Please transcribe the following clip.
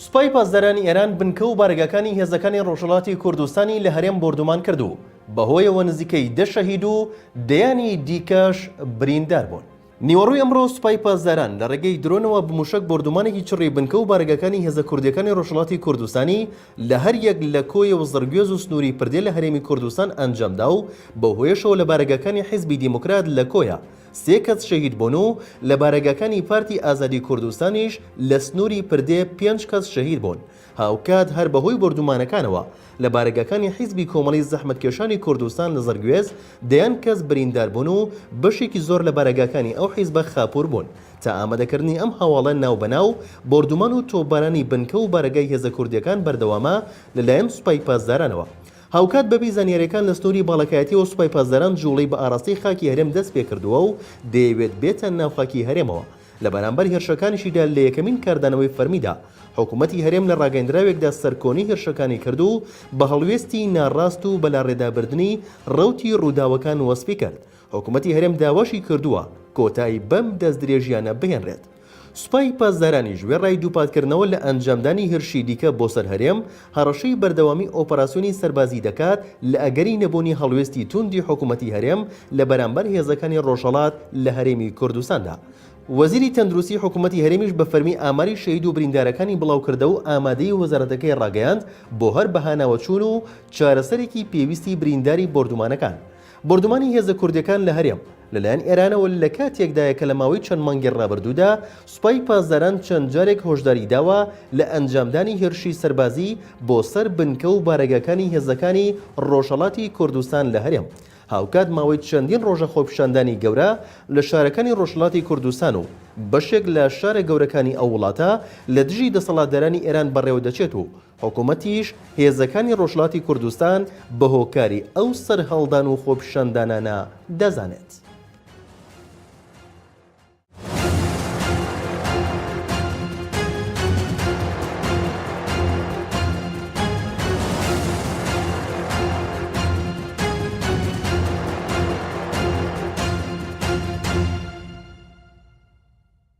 سوپای پاسدارانی ئێران بنکە و بارگاکانی هێزەکانی ڕۆژهڵاتی کوردستانی لە هەرێم بۆردومان کرد و بەهۆیەوە نزیکەی دە شەهید و دەیانی دیکەش بریندار بوون. نیوەڕۆی ئەمڕۆ سوپای پاسداران لە ڕێگەی درۆنەوە بە مووشەک بۆردومانێکی چڕی بنکە و بارەگاکانی هێزە کوردییەکانی ڕۆژهەڵاتی کوردستانی لە هەر یەک لە کۆیە و زڕگوێز و سنووری پردێ لە هەرێمی کوردستان ئەنجام دا و بەو هۆیەشەوە لە بارەگاکانی حیزبی دێموکرات لە کۆیە سێ کەس شەهید بوون و لە بارەگاکانی پارتی ئازادی کوردستانیش لە سنووری پردێ پێنج کەس شەهید بوون. هاوکات هەر بەهۆی بۆردومانەکانەوە لە بارەگاکانی حیزبی کۆمەڵی زەحمەتکێشانی کوردستان لە زەڕگوێز دەیان کەس بریندار بوون و بەشێکی زۆر لە بارەگاکانی ئەو حیزبە خاپوور بوون تا ئامادەکردنی ئەم هەواڵە ناو بە ناو بۆردومان و تۆپبارانی بنکە و بارەگای هێزە کوردیەکان بەردەوامە لە لایەن سوپای پاسدارانەوە هاوکات بەپێی زانیاریەکان لە سنوری باڵەکایەتیەوە سوپای پاسداران جوڵەی بە ئاراستەی خاکی هەرێم دەست پێکردووە و دەیەوێت بێتە ناو خاکی هەرێمەوە لە بەرامبەر هێرشەکانیشیدا لە یەکەمین کاردانەوەی فەرمیدا، حکوومەتی هەرێم لە ڕاگەیەندراوێکدا سەرکۆنەی هێرشەکانی کرد و بە هەڵوێستی ناڕاست و بەلاڕێدابردنی ڕەوتی ڕووداوەکان وەسفی کرد. حکوومەتی هەرێم داواشی کردووە کۆتایی بەم دەستدرێژییانە بهێنرێت. سوپای پاسدارانیش وێڕای دووپاتکردنەوە لە ئەنجامدانی هێرشی دیکە بۆ سەر هەرێم، هەڕەشەی بەردەوامی ئۆپەراسیۆنی سەربازی دەکات لە ئەگەری نەبوونی هەڵوێستی تووندی حکوومەتی هەرێم لە بەرامبەر هێزەکانی ڕۆژهەڵات لە هەرێمی کوردستاندا. وەزیری تەندروستی حکوومەتی هەرێمیش بە فەرمی ئاماری شەهید و بریندارەکانی بڵاو کردە و ئامادەیی وەزارەتەکەی ڕاگەیاند بۆ هەر بەهاناوە چوون و چارەسەرێکی پێویستی برینداری بۆردومانەکان بۆردومانی هێزە کوردییەکان لە هەرێم لەلایەن ئێرانەوە لە کاتێکدایە کە لە ماوەی چەند مانگی ڕابردوودا سوپای پاسداران چەند جارێک هۆشداری داوە لە ئەنجامدانی هێرشی سەربازی بۆ سەر بنکە و بارەگاکانی هێزەکانی ڕۆژهەڵاتی کوردستان لە هەرێم هاوکات ماوەی چەندین ڕۆژە خۆپیشاندانی گەورە لە شارەکانی ڕۆژهەڵاتی کوردستان و بەشێک لە شارە گەورەکانی ئەو وڵاتە لە دژی دەسەڵاتدارانی ئێران بەڕێوەدەچێت و حکومەتیش هێزەکانی ڕۆژهەڵاتی کوردستان بە هۆکاری ئەو سەرهەڵدان و خۆپیشاندانانە دەزانێت.